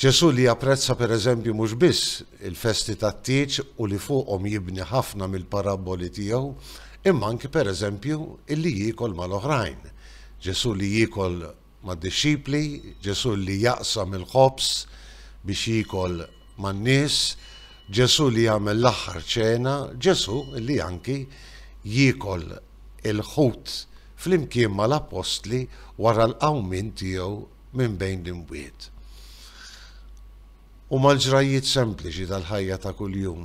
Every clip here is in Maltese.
Ġesù li japprezza pereżempju mhux biss il-festi tat-tieġ u li fuqhom jibni ħafna mill-parabboli tiegħu, imma anki pereżempju illi jiekol mal-oħrajn. Ġesù li jiekol mad-dixxipli, Ġesù li jaqsam il-ħobż biex jiekol man-nies, Ġesù li jagħmel l-aħħar ċena, Ġesù li anki jiekol il-ħut flimkien mal-appostli wara l-qawmien tiegħu minn bejn l-imwiet. Huma l-ġrajjiet sempliċi tal-ħajja ta' kuljum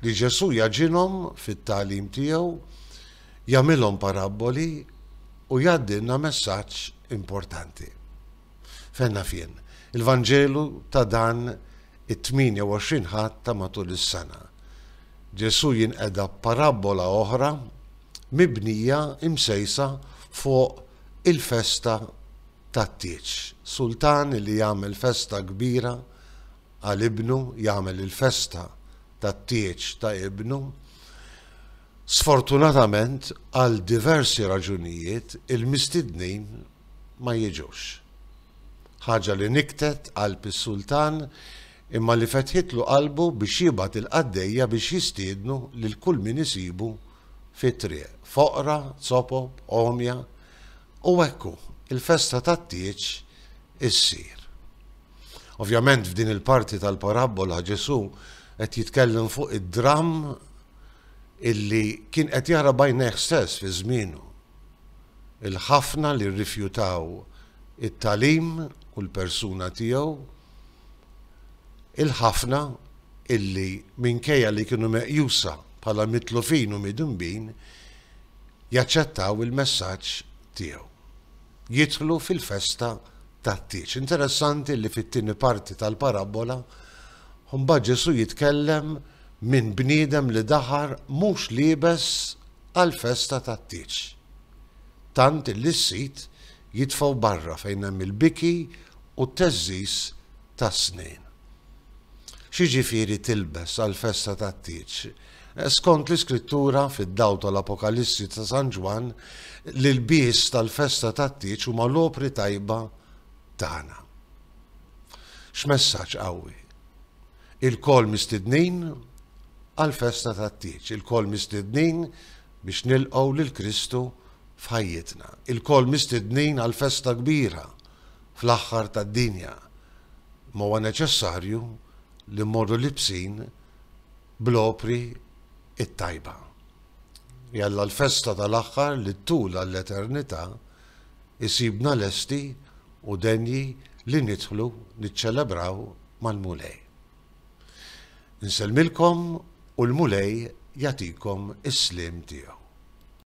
li Ġesù jagħġinhom fit-tagħlim tiegħu, jagħmilhom parabboli u jgħaddilna messaġġ importanti. Fejn naf jien, il-Vanġelu ta' dan it-28 Ħadd ta' matul is-sena. Ġesù jinqeda parabbola oħra mibnija imsejsa fuq Il-festa tat-tieġ. Sultan li jagħmel festa kbira għal ibnu, jagħmel il-festa tat-tieġ ta' ibnu. Sfortunatament, għal diversi raġunijiet, il-mistednin ma jiġux. Ħaġa li niktet qalb is-sultan imma li fetħitlu qalbu biex jibgħat il-qaddejja biex jistiednu lil kull min isibu fit-triq, foqra, zopob, għomja, u hekk hu, il-festa tat-tieġ issir. Ovvjament f'din il-parti tal-parabbola Ġesù qed jitkellem fuq id-dramm illi kien qed jara bajnejh stess fi żmienu. Il-ħafna li rrifjutaw it-tagħlim u l-persuna tiegħu Il-ħafna illi, minkejja li kienu meqjusa bħala mitlufin u midinbin, jaċċettaw il-messaġġ tiegħu, jidħlu fil-festa tat-tieġ. Interessanti illi fit-tieni parti tal-parabbola, mbagħad Ġesù jitkellem minn bniedem li daħar mhux liebes għall-festa tat-tieġ, tant illi s-sid jitfgħu barra fejn hemm il-biki u t-teżżiż tas-snejn. X'jiġifieri tilbes għall-festa tat-tieġ? Skont l-Iskrittura, fid-dawl tal-Apokalissi ta' San Ġwann, l-ilbies tal-festa tat-tieġ huma l-opri tajba tagħna. X'messaġġ qawwi! Ilkoll mistednin għall-festa tat-tieġ, ilkoll mistednin biex nilqgħu lil Kristu f'ħajjitna. Ilkoll mistednin għal festa kbira fl-aħħar tad-dinja. Ma huwa neċessarju li mmorru libsin bl-opri t-tajba. Jalla l-festa tal-aħħar li ttul għall-eternità issibna lesti u denji li nidħlu niċċelebraw mal-Mulej. Insellmilkom u l-Mulej jagħtikom is-sliem tiegħu.